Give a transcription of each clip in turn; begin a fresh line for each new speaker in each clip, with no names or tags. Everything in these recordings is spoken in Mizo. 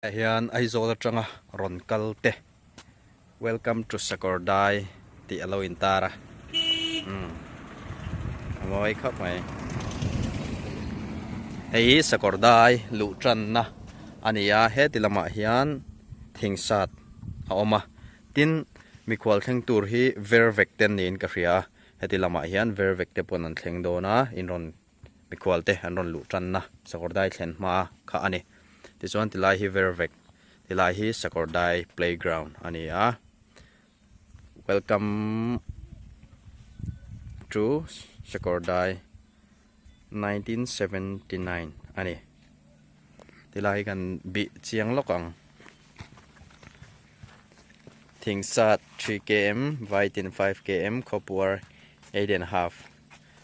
Hei hian Aizawl atanga rawn kal te Welcome to Sakawrdai tih alo in tar a umm a mawi khawp mai. Hei hi Sakawrdai luh tan na a ni a heti lamah hian thing sat a awm a tin mikhual thleng tur hi Vervek ten niin ka hria heti lamah hian Vervek te pawn an thleng dawn a in rawn mikhual te an rawn luh tanna sakawrdai thlen hma kha a ni tichuan ti lai hi ver vek ti lai hi sakawrdai playground a ni a welcome to sakawrdai 1979 a ni ti lai hi kan bi chiang lawk ang thingsat 3 km vaitin 5 km khawpuar 8 and half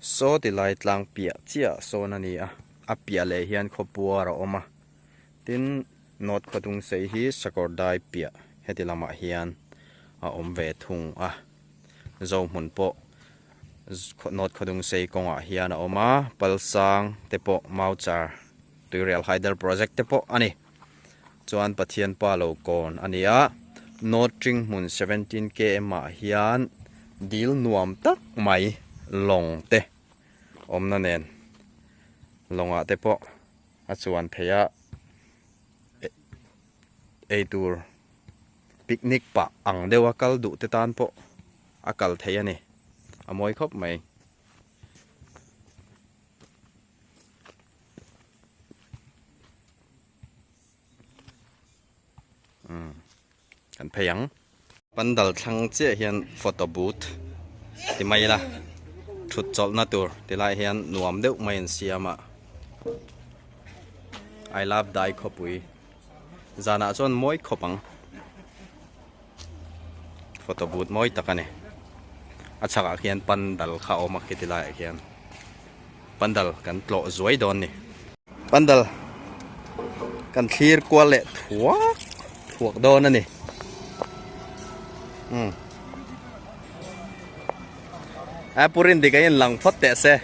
Saw ti lai tlang piah chiah sawn a ni a, a piah leh hian khawpuar a awm a, tin North Khawtung sei hi Sakawrdai piah heti lamah hian a awm ve thung a, Zohmun pawh North Khawtung sei kawngah hian a awm a, Palsang te pawh Mauchar Tuirial Hydel Project te pawh a ni. chuan Pathian Pa lo kawn a nia. Nawtling hmun seventeen KM ah hian dil nuam tak mai lawng te awmna nen lawngah te pawh a chuan thei a, eitur picnic pah ang deuh a kal duh te tan pawh a kal thei a ni, a mawi khawp mai. umm kan phei ang pandal thlang chiah hian photo booth ti mai ila thut chawlh na tur ti lai hian nuam deuh mai an siam a I love dai khawpui zanah chuan mawi khawp ang. Photo but mawi tak a ni. A chhakah khian pandal kha a awm a kheti laiah khian. Pandal kan tlawh zuai dawn a ni. Pandal kan thlir kual leh thuak thuak dawn a ni. Hmm. A purin dik a in lang phawt teh se.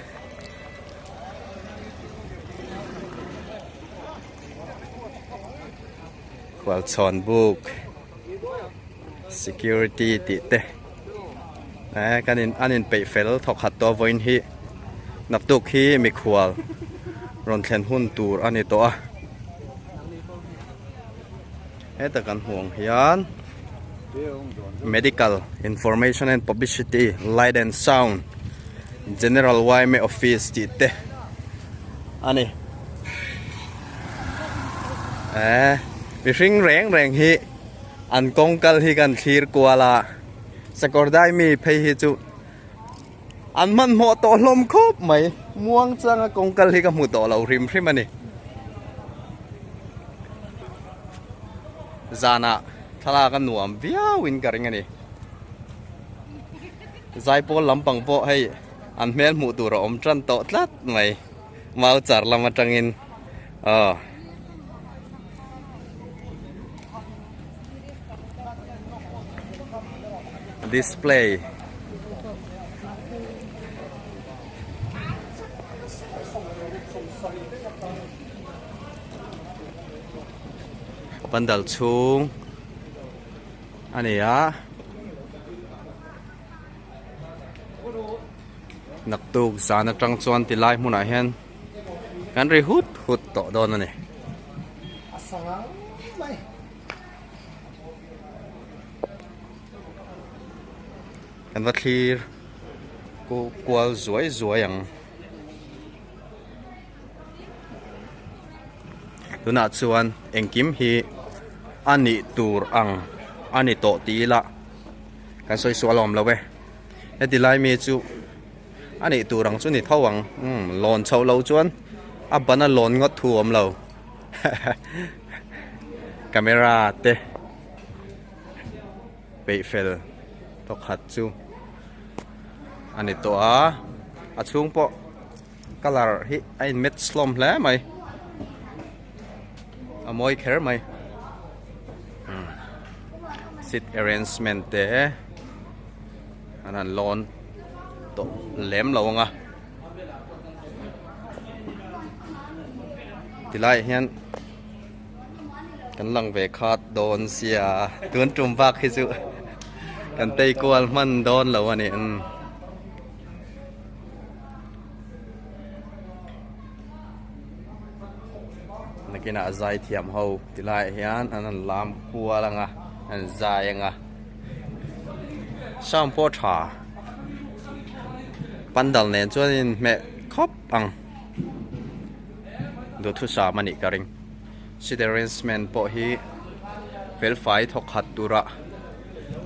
Kual chhawn buk. Security tih te eh kan in an in peih fel thawk khat tawh a vawiin hi naktuk hi mikhual rawn thlen hun tur a ni tawh a heta kan hmuh ang hian medical information and publicity light and sound general yma office tih te a ni. Eh, mihring reng reng hi an kawngkal hi kan thlir kual a. Sakawrdai mi phei hi chu an hmanhmawh tawh hlawm khawp mai. Muang changa kawngkal hi ka hmu tawh lo hrim hrim a ni. Zanah thlalak a nuam viauin ka ring a ni. Zaipawl lampang pawh hei an hmel hmuh tur a awm ṭan tawh tlat mai. Mau char lam atangin aw. Display. Pandal chhung a ni a. Naktuk zan atang chuan ti lai hmunah hian kan ri hut hut tawh dawn a ni. Kan va thlir ku kual zuai zuai ang. Tunah chuan engkim hi a nih tur ang a ni tawh ti ila. kan sawi suah alawm lo e heti lai mi chu a nih tur ang chu ni tho ang lawn chho lo chuan a ban a lawn ngawt thu awm lo camera te peih fel thawkhat chu a ni tawh a a chhung pawh Colour hi a in match hlawm hle mai. A mawi kher mai. Hmm. Seat arrangement te an han lawn tawh lem lo anga. Tilai hian kan lang ve khat dawn sia tun tum vak hi chu kan tei kual hman dawn lo ani. Hmm. nakinah zai thiam ho ti lai hian an han lam kual anga an zai anga sam pawh tha pandal nen chuan in hmeh khawp ang duthusam anih ka ring seating arrangement pawh hi felfai thawk khat tura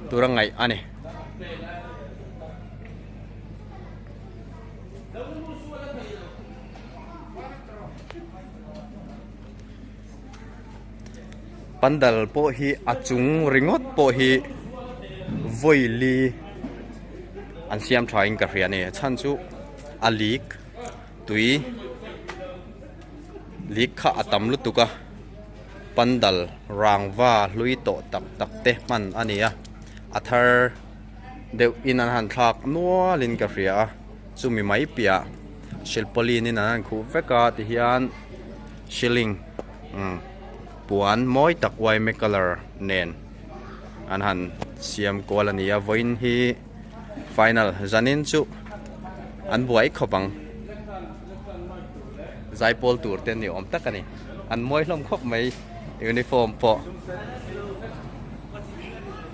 tura ngaih ani. pandal pawh hi a chung ringawt pawh hi vawili an siam tha in ka hria a ni a chhan chu a lik tui lik kha a tam lutuk a pandal rangva hlui tawh tak tak te hman a ni a a thar-- deuhin an han thlak nualin ka hria a, chumi mai piah silpawlin in an han khuh vek a tihian ceiling umm puan mawi tak uaime colour nen an han siam kual a ni a, vawiin hi final zanin chu an buai khawp ang zaipawl tur te ni awm tak a ni, an mawi hlawm khawp mai uniform pawh.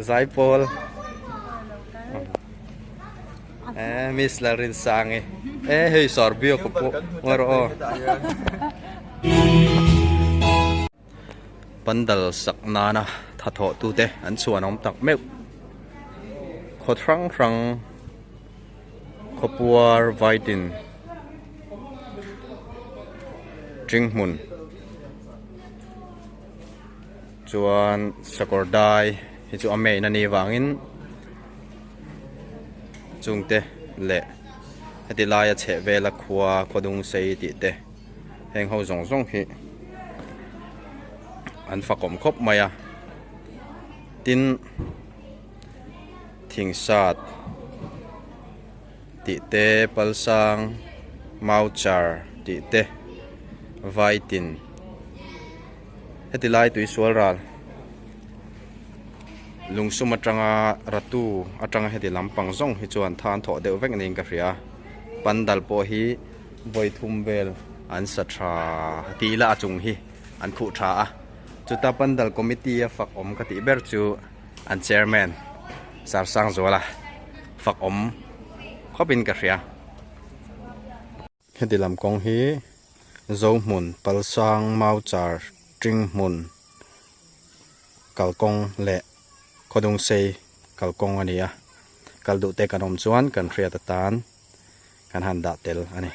Zai pawl Eh, Miss la rin sang eh. Eh, hei sor bio ko po. Ngor o. Pandal sak nana tha tho tu te an chuan om tak meu. Kho thrang thrang. Kho puar vaidin. Tring mun. Chuan Sakawrdai hi chu a mate-na ni vangin chungte leh heti laia chhehvela khua khuadung sei tih te heng ho zawng zawng hi an fakawm khawp mai a. Tin, Thingsat tih te, Palsang, Mauchar tih te, Vaitin, Heti lai tuisual ral lungsum atanga ratu atanga heti lam pang zawng hi chuan than thawh deuh vek niin ka hria. Pandal pawh hi vawi thum vel an sa tha ti ila a chung hi an khuh tha a. Chuta pandal committee a fak awm ka tih ber chu an chairman Sarsang Zuala fak awm khawpin ka hria. Heti lam kawng hi Zohmun, Palsang, Mauchar, Tingmun, Kalkawng leh Khodungsei, Kalkawng, a ni a, kal duhte kan awm chuan kan hriat atan kan han dah tel a ni.